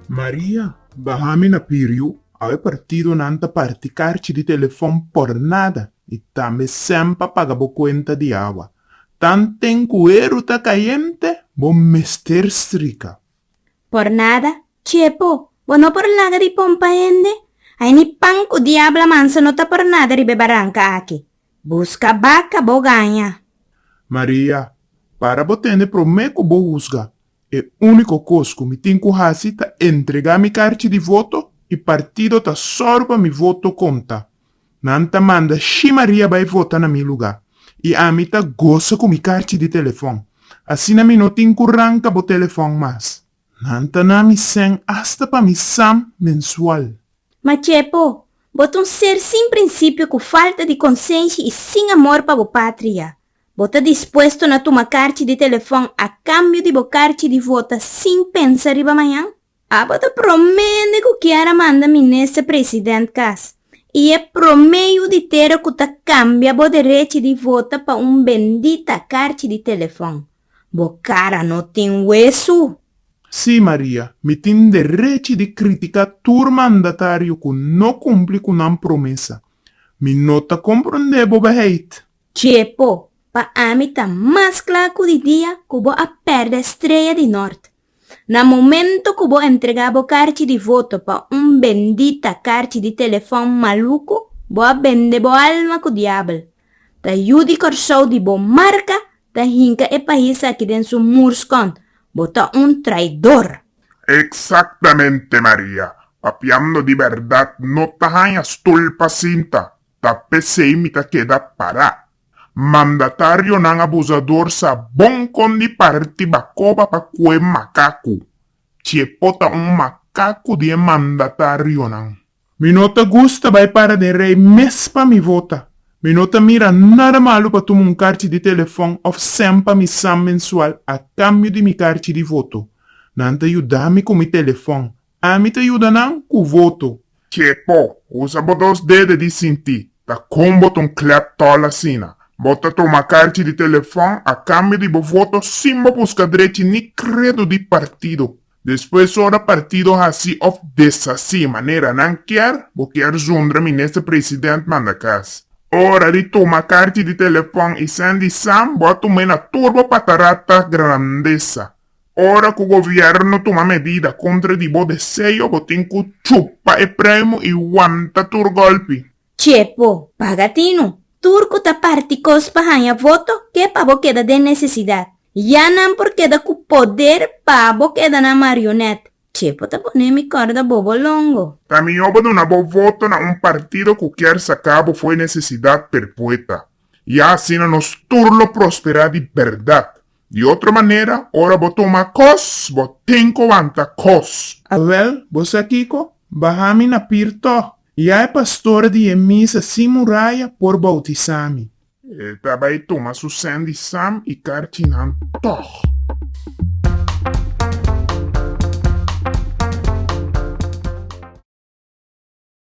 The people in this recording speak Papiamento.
Maria, Baha mi na Piriu, awe partidonan ta parti karchi di telefòn por nada i tambe sèn pa paga bo kuenta di awa. Tan ten ku eru ta kayente, bo mester strika. Por nada, Chepo, bo no por laga di pompa hende? Ai ni pan ku diabla manso no ta por nada riba e baranka aki. Busca baca bo gaña. Maria, Para bo tende prome cu bo husga. E unico cos cu mi tin cu haci ta entrega mi carchi di voto y partido ta sor pa mi voto conta. Nan ta manda shi Maria bay vota na mi luga y ami ta gosa cu mi carchi di telefon. Asina mi no tin cu ranca bo telefon mas. Nan ta na mi sèn asta pa mi sam mensual. Ma Chepo, bo ta un ser sin prinsipio ku falta di konsenshi i sin amor pa bo patria. Bo ta dispuesto na tuma karchi di telefòn a kambio di bo karchi di vota sin pensa riba mañan? Abo ta promé hende ku kier a manda minister president kas i e promé yuditero ku ta kambia bo derechi di vota pa un bendita karchi di telefòn. Bo cara no tin huesu? Sí, Maria, mi tin derechi di critica tur mandatario cu no cumpli cu nan promesa. Mi no ta comprende bo beheid. Chepo, pa ami ta mas cla cu di dia cu bo a perde estrella di nort. Na momento cu bo entrega bo carchi di voto pa un bendita carchi di telefon malucu, bo a bende bo alma cu diabel. Ta yu di Corsou di bo marca ta hinca e pais aki den su murscon. Bo ta un traidor. Exactamente Maria, papiando di berdad no ta haña stoel pa sinta, ta p'esey mi ta keda para. Mandatarionan abusador sa bon kon di parti bakoba pa kue makaku. Chepo ta un makaku di e mandatarionan. Mi no ta gusta bai para den rei mes pa mi vota. Mi no ta mira nada malu pa tuma un karchi di telefon of send pa mi sam mensual a kambio di mi karchi di voto. Nan ta yuda mi ku mi telefon. Ami ta yuda nan ku voto. Ke po usa bo dos dede di sinti? Ta kon bo ta un klèp tòl asina? Bo ta toma karchi di telefòn a kambio di bo voto sin bo buska drechi ni kredo di partido. Despues ora partido hasi òf deshasi manera nan kier, bo kier zundra minister president mandakas. Ora di toma karchi di telefòn i sèn di sam, bo a tum'e na tur bo patarata grandesa. Ora cu gobierno tuma medida contra di bo deseo bo tin cu chupa e pruimo y wanta tur golpi. Chepo, paga tinu. Tur cu ta parti cos pa hanja voto ke pa bo keda den necesidad. Ya nan por keda cu poder pa bo keda nan marionet. Chepo ta pone mi corda bobo longo. Ta mihor bo duna bo voto na un partido cu kier saca bo fo'i necesidad perpueta. Ya asina nos tur lo prospera di berdad. Di otro manera, ora bo toma kos, bo tin ku wanta kos. Awèl, bo sa kiko? Baha mi na pir tòg. Ya e pastor di e misa sin muraya por boutisá mi. E ta bai tuma su sèn di Sam i karchinan tòg.